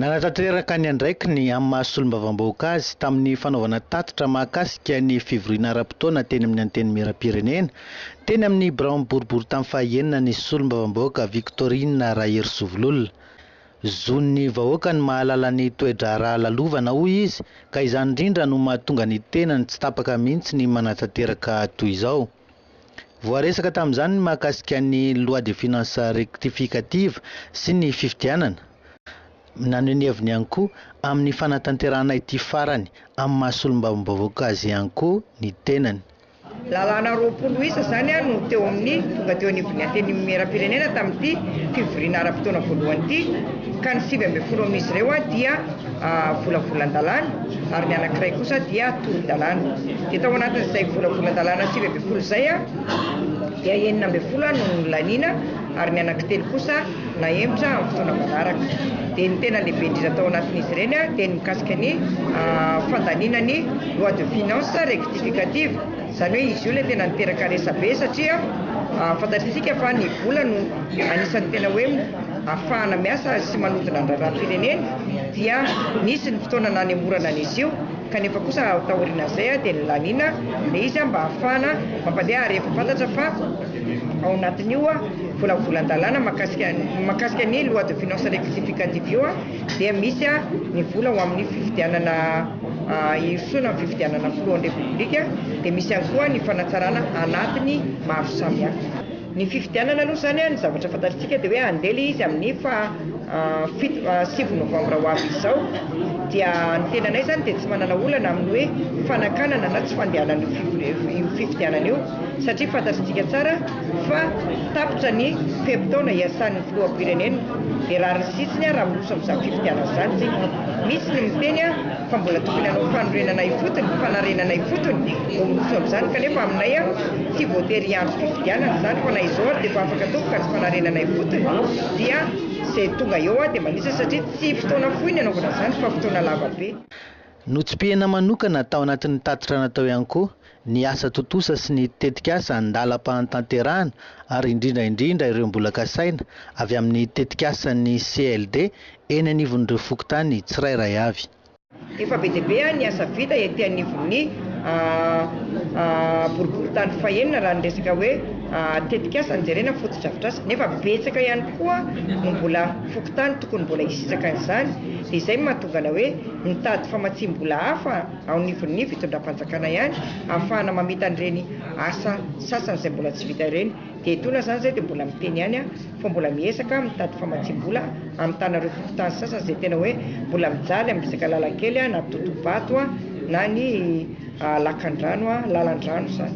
Nanatanteraka ny andraikiny amin'ny maha solombavambahoaka azy tamin'ny fanaovana tatitra mahakasika ny fivoriana ara-potoana teny amin'ny Antenimierampirenena, teny amin'ny biraon'ny boriboritany faha enina ny solombavambahoaka Victorine Raherisovololona. Zon'ny vahoaka ny mahalala ny toe-draharaha lalovana, hoy izy, ka izany indrindra no mahatonga ny tenany tsy tapaka mihitsy ny manatanteraka toy izao. Voaresaka tamin'izany ny mahakasika ny Loi de finances rectificative sy ny fifidianana. Naneho ny heviny ihany koa amin'ny fanatanterahana ity farany amin'ny maha solombavambahoaka azy ihany koa ny tenany. Lalàna roapolo isa izany no teo amin'ny tonga teo anivon'ny Antenimierampirenena tamin'ity fivoriana ara-potoana voalohany ity, ka ny sivy ambin'ny folo amin'izy ireo dia volavolan-dalàna ary ny anankiray kosa dia tolon-dalàna. Dia tao anatin'izay volavolan-dalàna sivy ambin'ny folo izay dia enina ambin'ny folo no nolaniana ary ny anankitelo kosa nahemotra amin'ny fotoana manaraka. Dia ny tena lehibe indrindra tao anatin'izy ireny dia ny mikasika ny fandaniana ny loi de finances rectificative, izany hoe izy io ilay tena niteraka resabe satria fantatr'isika fa ny vola no anisan'ny tena hoe afahana miasa sy manodina ny raharaham-pirenena dia nisy ny fotoana nanemorana an'izy io kanefa kosa taorianan'izay dia nilaniana ilay izy mba hahafahana mampandeha ary efa fantatra fa Ao anatin'io volavolan-dalàna mahakasika mahakasika ny loi de finances rectificative io dia misy ny vola ho amin'ny fifidianana hirosoana amin'ny fifidianana filohan'ny Repoblika dia misy ihany koa ny fanatsarana anatiny maro samihafa. Ny fifidianana aloha izany ny zavatra fantatritsika dia hoe handeha ilay izy amin'ny faha fito sivy novambra ho avy izao dia ny tenanay izany dia tsy manana olana amin'ny hoe fanakanana na tsy fandehanana io fifidianana io. satria fantatsika tsara fa tapitra ny fe-potoana iasan'ny filoham-pirenena dia rariny sitsiny raha miroso amin'izany fifidianana izany isika. Misy ny miteny fa mbola tokony hanao fanorenana ifotony, fanarenana ifotony vao miroso amin'izany kanefa aminay tsy voatery hiandry fifidianana izany fa na izao ary dia efa afaka atomboka ny fanarenana ifotony dia izay tonga eo dia manisa satria tsy fotoana fohy ny hanaovana izany fa fotoana lava be. Notsipihina manokana tao anatin'ny tatitra natao ihany koa ny asa tontosa sy ny tetikasa an-dalam-pahantanterahana ary indrindra indrindra ireo mbola kasaina avy amin'ny tetikasan'ny CLD eny anivon'ireo fokontany tsirairay avy. Efa be dia be ny asa vita ety anivon'ny boriborintany fahenina raha ny resaka hoe tetikasa no jerena, fotodrafitrasa, nefa betsaka ihany koa no mbola fokontany tokony mbola hisitraka an'izany dia izay no mahatonga anay hoe mitady famatsiam-bola hafa. ao anivon'ny fitondram-panjakana ihany ahafahana mamita an'ireny asa sasany izay mbola tsy vita ireny. Dia etoana izany izay dia mbola miteny ihany aho fa mbola miezaka mitady famatsiam-bola hamitana ireo fokontany sasany izay tena hoe mbola mijaly amin'ny resaka lalan-kely na totohabato na ny lakandrano, lalan-drano izany.